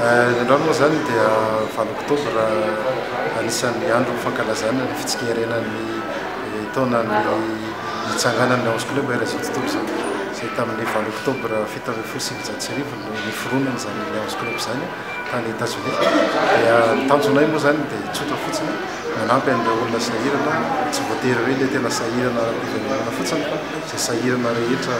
Ny androany moa izany dia valo oktobra, anisan'ny andro fankalazana ny fitsikerenan'ny taonan'ny nitsanganan'ny onze club eran' izao tontolo izao, izay tamin'ny valo oktobra fito ambin'ny folo sy sivinjato sy arivo no niforonany izany onze club izany tany Etazonia. Dia ny tanjonay moa izany dia tsotra fotsiny, manampy an'ireo olona sahirana, tsy voatery hoe ilay tena sahirana ara-piverenana fotsiny fa izay sahirana rehetra,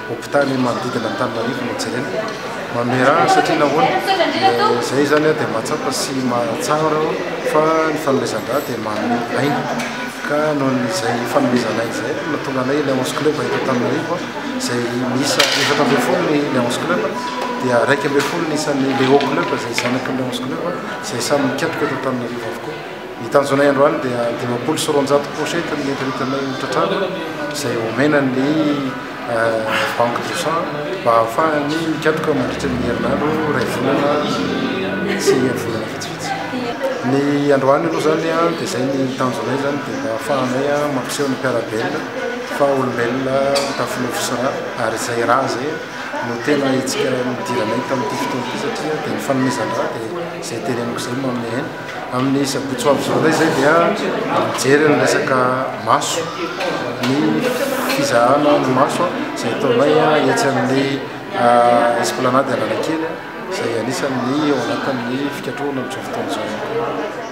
Hopitaly manodidina Antananarivo no jerena, mamerà satria nahoana? izay izany dia mahatsapa sy mahatsara fa ny fanomezan-drà dia manome aina ka noho izay fanomezana aina izay no nahatonga anay Lions Club eto Antananarivo izay miisa efatra ambin'ny folo ny Lions Club dia iraika ambin'ny folo ny isan'ny Leo Club izay zanaky ny Lions Club izay samy mikatroka eto Antananarivo avokoa. Ny tanjonay androany dia dimampolo sy roanjato pochette ny entin'entinay ho tratrarina izay omena ny Banque du sang mba hahafahany mikatroka mandritra ny herinandro iray volana sy ny volana vitsivitsy. Ny androany aloha izany dia izay ny tanjonay izany dia mba hahafahanay mampiseho ny mpiara-belona fa olombelona tafinofo sy ra ary izay ra izay no tena hetsika nidiranay tamin'ity fotoana ity satria dia ny fanomezan-dra dia izay tereniko izay no manome aina. Amin'ny sabotsy ho avy izao indray izay dia mijery ny resaka maso, ny fizahana ny maso izay ataonay etsy amin'ny ah, esplanade Analakely izay anisan'ny ao anatin'ny fikatrohana amin'izao fotoana izao.